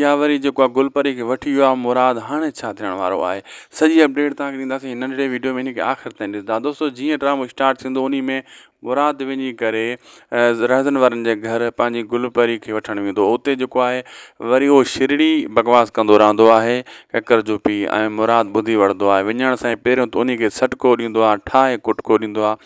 يا وري جيڪو آ گل پري کي وٺي ويو آ مراد هاڻي ڇا ٿيڻ وارو آهي سڄي اپڊيٽ توهان کي ڏينداسين هن ننڍڙي ويڊيو ۾ هن کي آخر تائين ڏسندا دوستو جيئن ڊرامو اسٽارٽ ٿيندو انهي ۾ مراد وڃي ڪري رهزن وارن جي گهر پنهنجي گل پري کي وٺڻ ويندو اتي جيڪو آهي وري اهو شرڙي بڪواس ڪندو رهندو آهي ڪڪر جو پي ۽ مراد ٻڌي وڙندو آهي وڃڻ سان پهريون ته انهي کي سٽڪو ڏيندو آهي ٺاهي ڪٽڪو ڏيندو آهي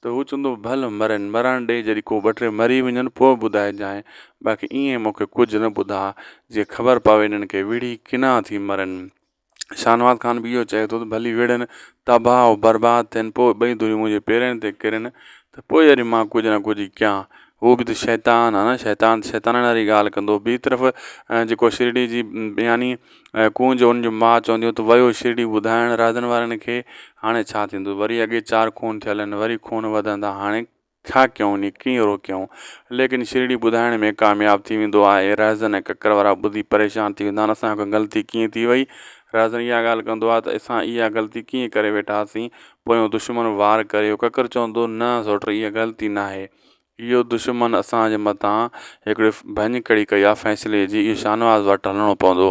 ته هو چوندو، ڀل مرين، مرڻ ڏي، جڏهن ڪو ٻه ٽي مري وڃن، پوء ٻڌائجانء، باقي ايئن مون کي ڪجهه نه ٻڌاء، جيئن خبر پوي انهن کي ويڙهي ڪنا ٿي مرن. شاهنواز خان به اهو چئي ٿو ته ڀلي ويڙهن، تباهه و برباد ٿين، پوء ٻئي ڌريون منهنجي پيرن تي ڪرن، ته پوء وري مان ڪجهه نه ڪجهه ڪيان. هو به ته شيطان آهي نه، شيطان ته شيطانڻ واري ڳالهه ڪندو. ٻي طرف جيڪو شرڙي جي بياني. ۽ ڪونج هن جون ماء چونديون ته ويو شرڙي ٻڌائڻ رادن وارن کي هاڻي ڇا ٿيندو وري اڳي چار خون ٿيل آهن وري خون وڌندا هاڻي ڇا ڪيون ني ڪيئن روڪيون ليڪن شرڙي ٻڌائڻ ۾ ڪامياب ٿي ويندو آهي رهزن ۽ ڪڪر وارا ٻڌي پريشان ٿي ويندا آهن اسان کان غلطي ڪيئن ٿي وئي رهزن اها ڳالهه ڪندو آهي ته اسان اها غلطي ڪيئن ڪري ويٺاسين پويون دشمن وار ڪريو ڪڪر چوندو نه سوٽر اها غلطي ناهي اهو دشمن اسان جي مٿان هڪڙي ڀڃڪڙي ڪئي آ فيصلي جي اهو شاهنواز وٽ هلڻو پوندو.